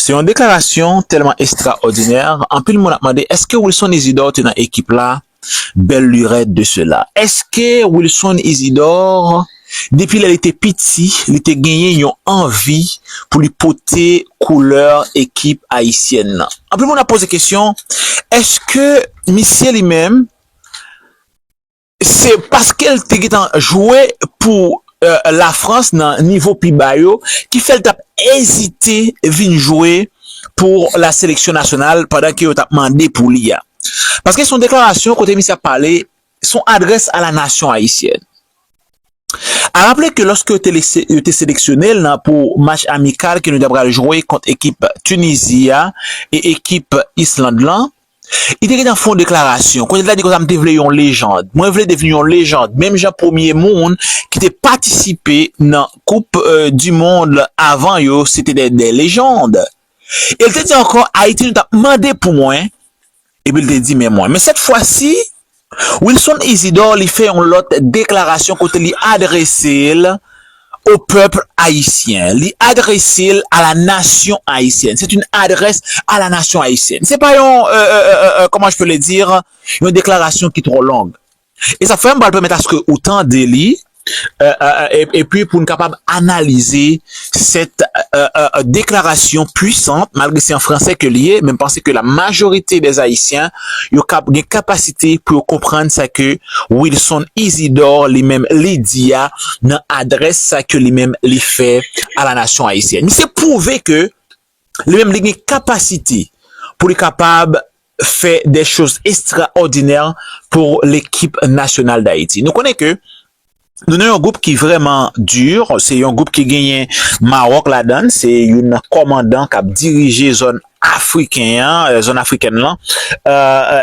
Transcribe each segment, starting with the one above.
Se yon deklarasyon tèlman estraòdinè, anpil moun ap mande èske Wilson Isidor te nan ekip la, bèl lurèt de sela. Èske Wilson Isidor, depi lè li te piti, li te genyen yon anvi pou li pote koulè ekip ayisyèn nan? Anpil moun ap poze kesyon, èske misye li menm? Se paske l te gentan jwe pou Lafrans nan nivo pi ba yo ki fè l t ap ezite vin jwe pou la seleksyon nasyonal pandan ke yo t ap mande pou li a. Paske se yon deklarasyon kote misye ap pale, se yon adrès a la nasyon ayisyèn. A raple ke lòske yo te seleksyone l nan pou match amikal ke nou ta pral jwe kont ekip Tunizi a e ekip Island lan, Li te gen nan fon deklarasyon, kote li ta di konsa, m te vle yon lejand, mwen vle devni yon lejand, menm jan premye moun ki te patisipe nan koup di mond lan avan yo se te de lejand. E li te di ankò, Ayiti nou t ap mande pou mwen, epi li te di men mwen. Men sèt fwa si, Wilson Isidore li fè yon lòt deklarasyon kote li adrese l au peuple haïtien, li adrese l à la nation haïtienne, c'est une adresse à la nation haïtienne. Se pa yon, comment je peux le dire, yon deklarasyon ki twò long. E sa fè m pral pèmèt aske ou tande li epi pou n kapab analize sèt deklarasyon pwisan, malgre se an franse ke li ye, men m panse ke la majorite dè Ayisyen, yo kab gen kapasite pou yo konprann sa ke Wilson Isidore li menm li di a nan adrès sa ke li menm li fè a la nasyon Ayisyèn. Misye pwouve ke Li menm li gen kapasite pou li kapab fè des choses extraordinaires pour l'équipe nationale d'Haïti. Nou konnen ke nou nan yon gwoup ki vrèman dur, se yon gwoup ki genyen Maroc ladann, se youn nan kòmandan kap dirije zòn afriken an, zòn afrikèn lan,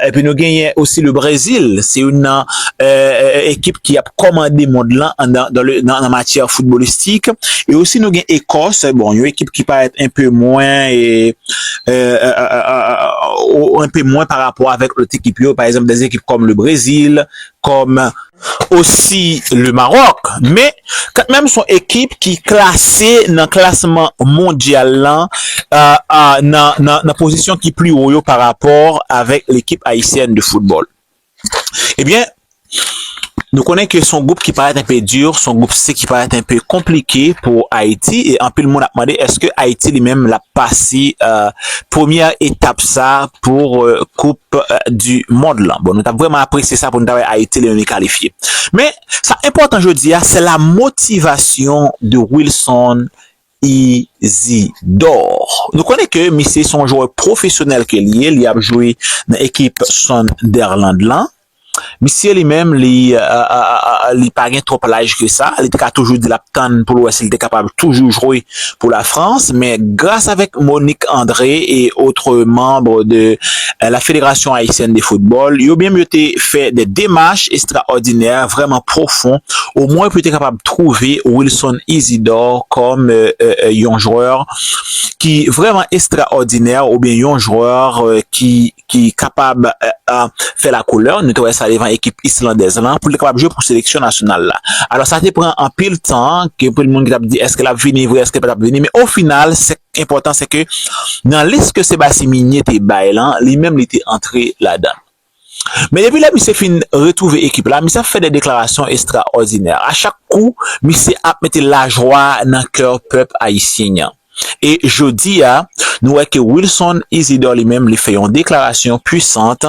epi nou genyen osi le Brésil, se youn nan. ekip ki ap kòmande mond lan nan matyè foutbolistik. E osi nou gen Ekòs, bon, yon ekip ki parèt enpe mwen, enpe mwen pa rapò avèk lòt ekip yo, pa egzanp, dè ekip kòm le Brezil, kòm. Osi le Maròk. Men, katmenm son ekip ki klase nan klasman mondyal lan nan pozisyon ki pli wo yo pa rapò avèk lekip ayisyèn de foutbòl. Ebyen, nou konnen ke son gwoup ki parèt enpe dur, son gwoup se ki parèt enpe konplike pou Ayiti e anpil moun ap mande eske Ayiti li menm lap pase premyè etap sa pou koup di mond lan. Bon nou tap vreman apresye sa pou nou ta wè Ayiti li menm li kalifye. Men sa enpòtan jodi a se la motivasyon de Wilson Isidor. Nou konnen ke misye se yon jwè pwofesyonèl ke li ye, li ap jwe nan ekip Sunderland lan. Misye li menm li li pa gen twòp laj ke sa, li te ka toujou di lap tann pou l wè si l te kapab toujou jwe pou la Frans men gras avèk Monique André et autres membres de la Fédération Haïtienne de Football, yo menm yo te fè de demach estraòdinè, vrèman pwofon, omwen pou yo te kapab twouve Wilson Isidore kòm yon jwè ki vrèman estraòdinè oubyen yon jwè ki kapab fè lakoulè, nou te wè sa devan ekip islandèz lan, pou l te kapab jwe pou seleksyon nasyonal la. Alò sa te pran anpil tan, gen anpil moun ki t ap di èske l ap vini vre, èske l pa t ap vini, men ofinal, enpòtan se ke nan lis ke Sebasyen Minye te bay lan, li menm li te antre ladan. Men depi lè misye fin retwouve ekip la, misye ap fè de deklarasyon estraòdinè. A chak kou, misye ap mete lajwa nan kè pèp ayisyen an. E jodi a, nou wè ke Wilson Isidore li menm li fè yon deklarasyon pwisant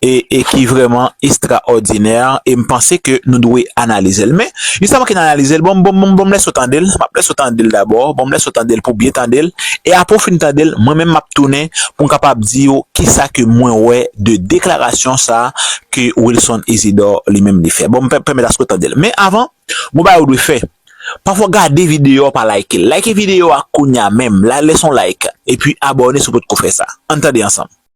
e e ki vrèman estraòdinè e m panse ke nou dwe analize l men jis avan ke n analize l ban m ban m lès ou tande l m ap lèse w tande l dabò ban m lèse w tande l pou w byen tande l e apre w fin tande l mwen menm m ap tounen pou m kapab di w kisa ke mwen wè de deklarasyon sa ke Wilson Isidor li menm li fè ban m pèmèt aske w tande l men avan gen yon bagay ou dwe fè pafwa gade videyo a pa like l like videyo a kounya menm lè s on like epi abòne si w potko fè sa an n tande ansanm.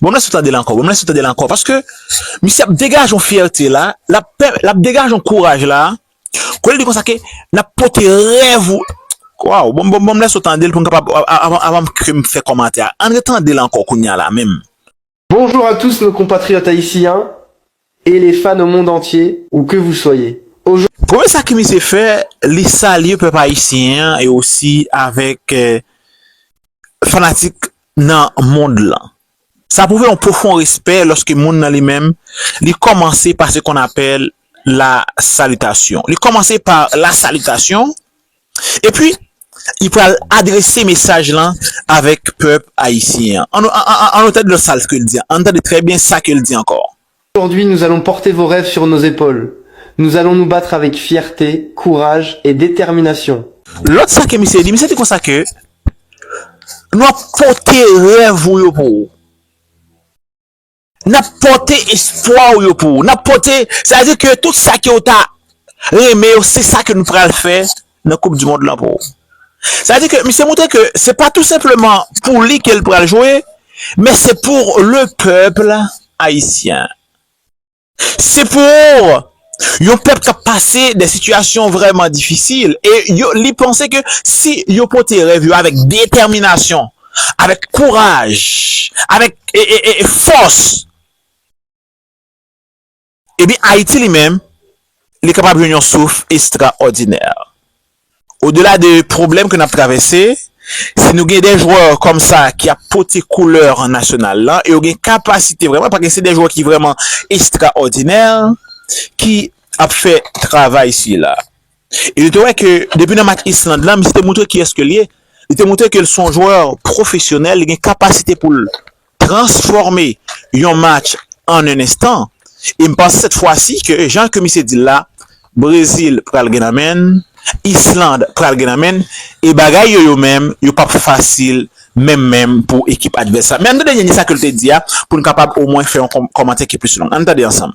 Bon m lèse w tande l ankò, bon m lèse w tande l ankò paske misye ap degaje yon fyète la, l ap pè, l ap degaje yon kouraj la, ke l di konsa ke n ap pote rèv ou, waw, bon bon bon m lèse w tande l pou n kapab, avan ke m fè kòmantè a, an retande l ankò kounye a la menm. Bonjour à tous nos compatriotes haïtiens Et les fans au monde entier ou que vous soyez aujourd'hui. Premye sa ke misye fè, li salye pèp ayisyen an e osi avèk fanatik nan mond lan. Sa pwouve yon pwofon respè lòske moun nan li menm, li kòmanse pa se kon apèl la salitasyon. Li kòmanse pa la salitasyon. Epi, li pral adrese mesaj lan avèk pèp ayisyen an. An nou tande lòt sa l di an. An nou tande trè byen sa ke l di ankò. Aujourd'hui nous allons porter vos rêves sur nos épaules, nous allons nous battre avec fierté, courage et détermination. Lòt sa ke misye di, misye di konsa ke nou ap pote rèv ou yo pou ou. N ap pòte espwa ou yo pou ou. N ap pòte, sa vle di ke tout sa ke ou ta renmen yo, se sa ke nou pral fè nan koup di mond lan pou ou. Sa vle di ke misye montre ke se pa tou senpleman pou li ke l pral jwe, men se pour le peuple haïtien. Se pour Yon pèp kap pase de sitiyasyon vrèman difisil e yo li panse ke si yo pote rèv yo avèk detèminasyon, avèk kouraj, avèk fòs, ebyen Ayiti li menm li kapab jwenn yon souf estraòdinè. Odela de pwoblèm ke n ap travèse, si nou gen de jwè kòm sa ki ap pote koulè nasyonal lan e yo gen kapasite vrèman, paske se de jwè ki vrèman estraòdinè ki ap fè travay sila. E nou te wè ke depi nan match Island lan, misye te moutre kiyès ke l ye. Li te moutre ke l se yon jwè pwofesyonèl, li gen kapasite pou l transfòme yon match an 1 enstan e m panse sèt fwa si ke jan ke misye dil la Brezil pral gen nan menn, Island pral gen nan menn e bagay yo yo menm yo pap fasil menm menm pou ekip advès la. Men ann tande Ninie sa ke l te di a pou n kapab omwen fè yon kòmantè ki plis long. Ann tande ansanm.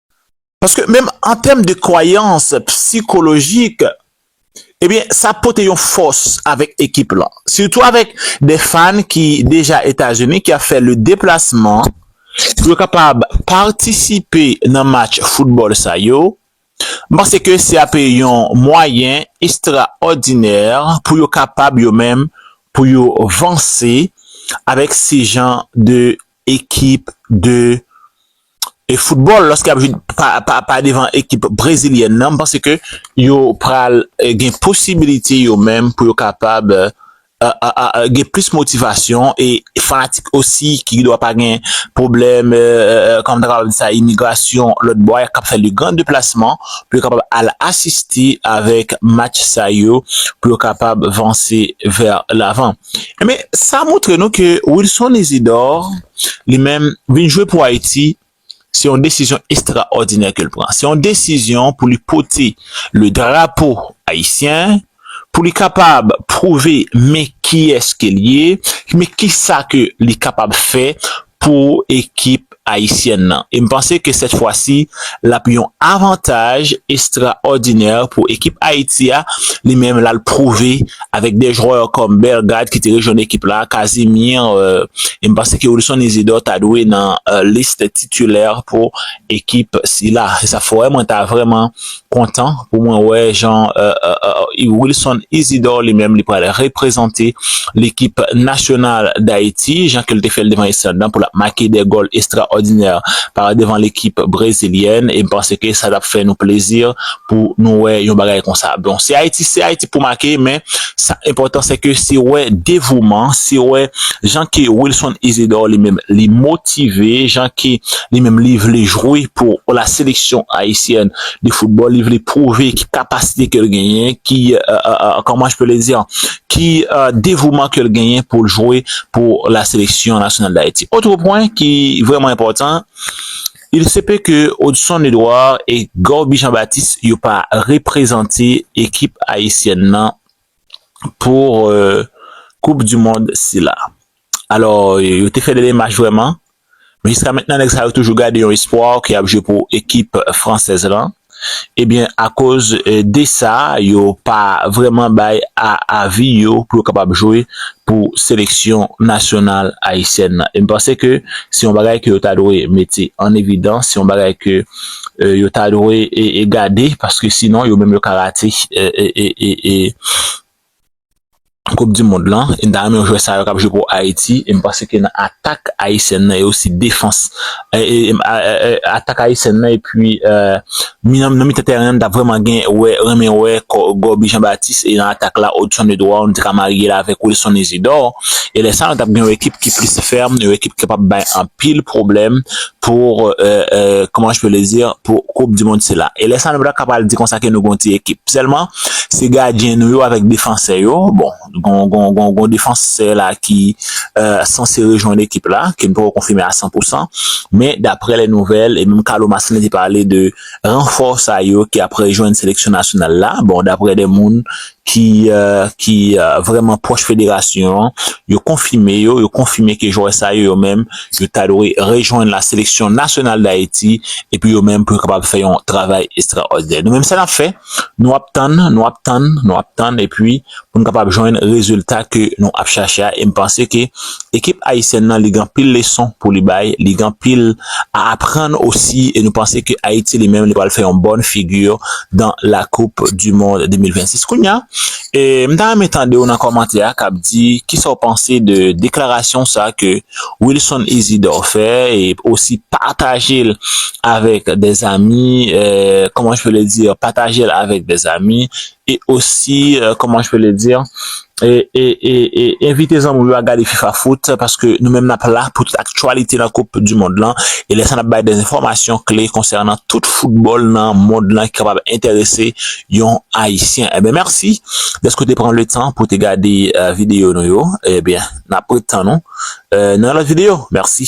Paske menm an tèm de kwayans psikolojik, ebyen sa pote yon fòs avèk ekip lan. Sitou avèk de fan ki deja Etazini ki ap fè le deplasman pou yo kapab patisipe nan match foutbòl sa yo, m panse ke se ape yon mwayen estraòdinè pou yo kapab yo menm pou yo vanse avèk se jan de ekip de football lòske yap jwe pa devan ekip brezilyèn nan, m panse ke yo pral gen posibilite yo menm pou yo kapab gen plis motivasyon e fanatik osi ki gendwa pa gen pwoblèm kòman m ta kapab di sa imigrasyon lòtbò a kap fè de gran deplasman pou yo kapab al asiste avèk match sa yo pou yo kapab vanse vè lavan. Enben, sa montre nou ke Wilson Isidor, li menm, vin jwe pou Ayiti, se yon desizyon estraòdinè ke l pran. Se yon desizyon pou li pote le drapo ayisyen, pou li kapab pwouve men kiyès ke l ye, men kisa ke li kapab fè pou ekip Ayisyèn nan e m panse ke sèt fwa si l ap yon avantaj estraòdinè pou ekip Ayiti a, li menm l al pwouve avèk de jwè kòm Bellegarde ki te rejwenn ekip la, Casimir e m panse ke Wilson Isidore ta dwe nan list titilè pou ekip sila. Se sa k fè mwen ta vrèman kontan pou mwen wè jan Wilson Isidor li menm li pral reprezante lekip nasyonal Dayiti jan ke l te fè l devan Islande lan pou l ap make de gòl estraòdinè par devan lekip brezilyèn e m panse ke sa t ap fè nou plezi pou nou wè yon bagay konsa bon se Ayiti se Ayiti pou make men Sa enpòtan se ke se wè devouman, se wè jan ke Wilson Isidore li menm li motive, jan ke li menm li vle jwe pou la seleksyon Ayisyèn de foutbòl, li vle pwouve ki kapasite ke l genyen, ki kòman je peux le dire, ki devouman ke l genyen pou l jwe pou la seleksyon nasyonal Dayiti. Otre pwen ki vrèman enpòtan. Il se peut que Odson Edouard et Gorby Jean Baptiste yo pa reprezante ekip ayisyèn nan pour koup du mond sila. Alors yo te fè de demach vrèman men jiska mentnan nèg sa yo toujou gade yon espoir ke yap jwe pou ekip fransèz lan. Ebyen akoz desa yo pa vreman bay a avi yo pou yo kapab jwe pou seleksyon nasyonal ayisyèn nan. E m panse ke se yon bagay ke yo ta dwe mete an evidans, se yon bagay ke yo ta dwe gade paske sinon yo menm yo ka rate e. koup di mond lan e da menm jwè sa yo kap jwe pou ayiti e m panse ke nan atak ayisyèn nan e osi defans atak ayisyèn nan epi nan mitan tèren an ta vreman gen wè renmen wè gòbi jan batis e nan atak la odson edward nou te ka marye l avèk wilson izidò e lè sa nou tap gen yon ekip ki plis fèm yon ekip ki pap bay anpil pwoblèm pou kòman je pe le di pou koup di mond sila e lè sa nou pa ta ka pral di konsa ke nou gen yon ti ekip sèlman Se gadyen nou yo avèk defansè yo. Bon, gon defansè la ki sanse rejwenn ekip la, ke nou poko konfime a san pou san. Men, daprè lè nouvèl, e menm Carlo Marcelin te pale de ranfò sa yo ki ap rejwenn seleksyon nasyonal la. Bon, daprè de moun ki vrèman pwòch federasyon an, yo konfime yo, yo konfime ke jwè sa yo yo menm, yo ta dwe rejwenn la seleksyon nasyonal Dayiti, epi yo menm pou yo kapab fè yon travay estraòdinè. Nou menm sa n ap fè? Nou ap tann, nou ap tann, nou ap tann epi pou nou kapab jwenn rezilta ke nou ap chache a e m panse ke ekip ayisyèn nan li gen anpil leson pou li bay, li gen anpil a aprann osi e nou panse ke Ayiti li menm li pral fè yon bòn figi dan la koup di mond 2026. Kounya e m ta renmen tande w nan kòmantè a kap di kisa w panse de deklarasyon sa ke Wilson Isidore fè e osi patajel avèk dè zami kòman je peux le dire patajel avèk dè zami e osi kòman je peux le dire e e e envite zanmi w yo a gade fifa foot paske nou menm nap la pou tout aktyalite nan koup du mond lan e lè sa nap bay dè enfòmasyon kle konsènan tout foutbòl nan mond lan ki kapab enterese yon ayisyen ebyen mèsi dèske w te pran le tan pou w te gade video nou yo ebyen. Nap ret tann ou nan yon lot video. Merci.